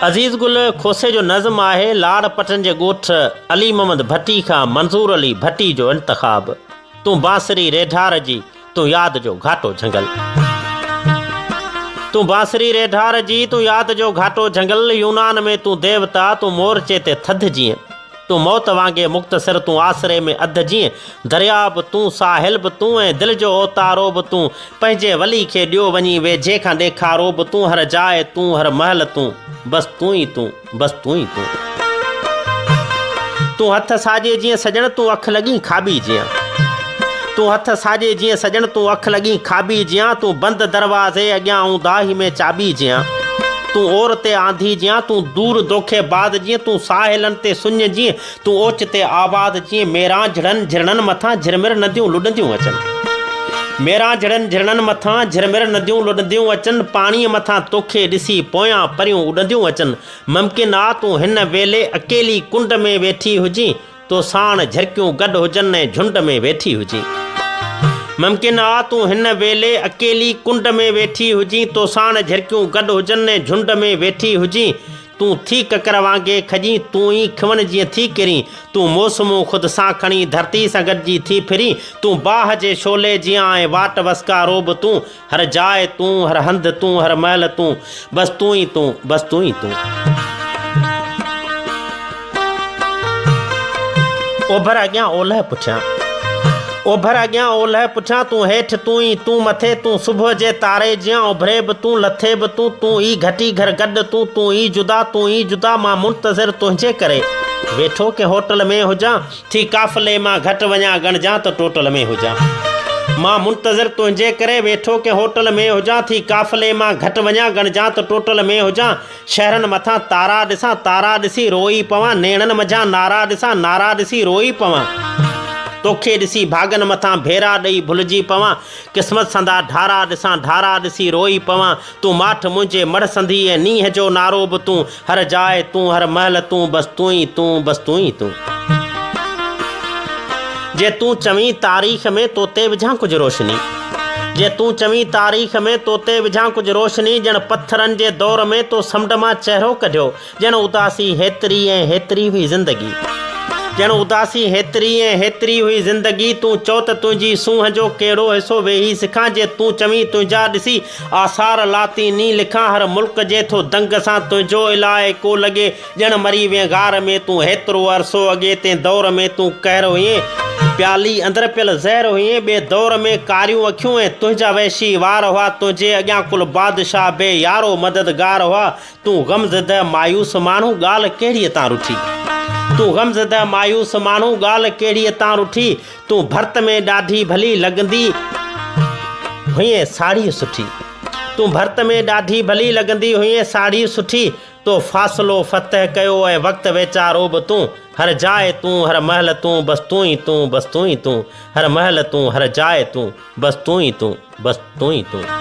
عزيز گل کوسي جو نظم آهي لاڙ پٽن جي ڳوٺ علي محمد ڀٽي کان منظور علي ڀٽي جو انتخاب تون بانسري ريڍار جي تون ياد جو گهاٽو جهنگل تون بانسري ريڍار جي تون ياد جو گهاٽو جهنگل يونان ۾ تون ديوتا تون مورچي تي ٿڌ جيئن تون موت وانگي مختصر تون آسري ۾ اڌ جيئن درياء به تون ساحل به تون ۽ دل جو اوتارو به تون پنهنجي ولي کي ڏيو وڃي ويجهي کان ڏيکارو به تون هر جاء تون هر مهل تون بس تون ئي تون بس تون ئي تون تون هٿ ساڄي جيئن سڄڻ تون اک لڳين کاٻي جيئن. تون هٿ ساڄي جيئن سڄڻ تون اک لڳين کاٻي جيان تون بند دروازي اڳيان آئون داهي ۾ چاٻي جيان تون اور تي آنڌي جيان تون دور دوکي باز جيئن تون ساحلن تي سڃ جيئن تون اوچتي آواز جيئن ميرانجهڙن جهرڻن مٿان جهرمر نديون لڏنديون اچن ميرانجهڙن جهرڻن مٿان جهرمر نديون لڏنديون اچن پاڻي مٿان توکي ڏسي پويان پريون اڏنديون اچن ممڪن آ تون هن ويلي اڪيلي ڪنڊ ۾ ويٺي هجين تو ساڻ جھرڪيون گڏ هجن ۽ جھنڊ ۾ ويٺي هجين. ممڪن آ تون هن ويلي اڪيلي ڪنڊ ۾ ويٺي هجين تو ساڻ جھرڪيون گڏ هجن ۽ جھنڊ ۾ ويٺي هجين تون ٿي ڪڪر وانگي کڄين تون ئي کون جيئن ٿي ڪرين تون موسمون خود سان کڻي ڌرتي سان گڏجي ٿي ڦرين تون باھ جي شعلي جيان ۽ واٽ وسڪارو به تون هر جاء تون، هر هنڌ تون، هر مهل تون، بس تون ئي تون، بس تون ئي تون. اوڀر اڳيان اولهه پٺيان. اوڀر اڳيان اولهه پٺيان تون هيٺ تون ئي تون مٿي تون صبح جي تاري جيان اڀري به تون لٿي به تون تون ئي گهٽي گهر گڏ تون تون ئي جدا تون ئي جدا مان منتظر تنهنجي ڪري ويٺو ڪنهن هوٽل ۾ هجان ٿي قافلي مان گهٽ وڃان ڳڻجان ته ٽوٽل ۾ هجان مان منتظر تنهنجي ڪري ويٺو ڪنهن هوٽل ۾ هجان ٿي قافلي مان گهٽ وڃان ڳڻجان ته ٽوٽل ۾ هجان شهرن مٿان تارا ڏسان تارا ڏسي روئي پوان نيڻن منجهان نارا ڏسان نارا ڏسي روئي پوان توکي ڏسي ڀاڳن مٿان ڀيرا ڏئي ڀلجي پوان قسمت سندا ڍارا ڏسان ڍارا ڏسي روئي پوان تون ماٺ منهنجي مڙهه سندي ۽ نينهن جو نعرو به تون هر جاء تون هر مهل تون بس تون ئي تون بس تون ئي تون. جي تون چوين تاريخ ۾ تو تي وجهان ڪجهه روشني جي تون چوين تاريخ ۾ تو تي وجهان ڪجهه روشني ڄڻ پٿرن جي دور ۾ تو سمنڊ مان چهرو ڪڍيو ڄڻ اداسي هيتري ۽ هيتري هئي زندگي. ڄڻ اداسي هيتري ۽ هيتري هئي زندگي تون چئو ته تنهنجي سونهن جو ڪهڙو حصو ويهي سکان جي تون چوين تنهنجا ڏسي آثار لاطيني لکان هر ملڪ جي ٿو دنگ سان تنهنجو الائي ڪو لڳي ڄڻ مري وئين غار ۾ تون هيترو عرصو اڳي تنهن دور ۾ تون قهر هئين پيالي اندر پيل زهر هئين ٻئي دور ۾ ڪاريون اکيون ۽ تنهنجا وحشي وار هئا تنهنجي اڳيان ڪل بادشاهه به يارو مددگار هئا تون غم زده مايوس ماڻهو ڳالهه ڪهڙيء تان رٺي. تون غم زده مايوس ماڻهو ڳالهه ڪهڙيء تان رٺي. تون ڀرت ۾ ڏاڍي ڀلي لڳندي هئين ساڙهي سٺي. تون ڀرت ۾ ڏاڍي ڀلي لڳندي هئين ساڙهي سٺي. تو فاصلو فتح ڪيو ۽ وقت ويچارو به تون. هر جاء تون هر مهل تون بس تون ئي تون بس تون ئي تون. هر مهل تون هر جاء تون بس تون ئي تون بس تون ئي تون.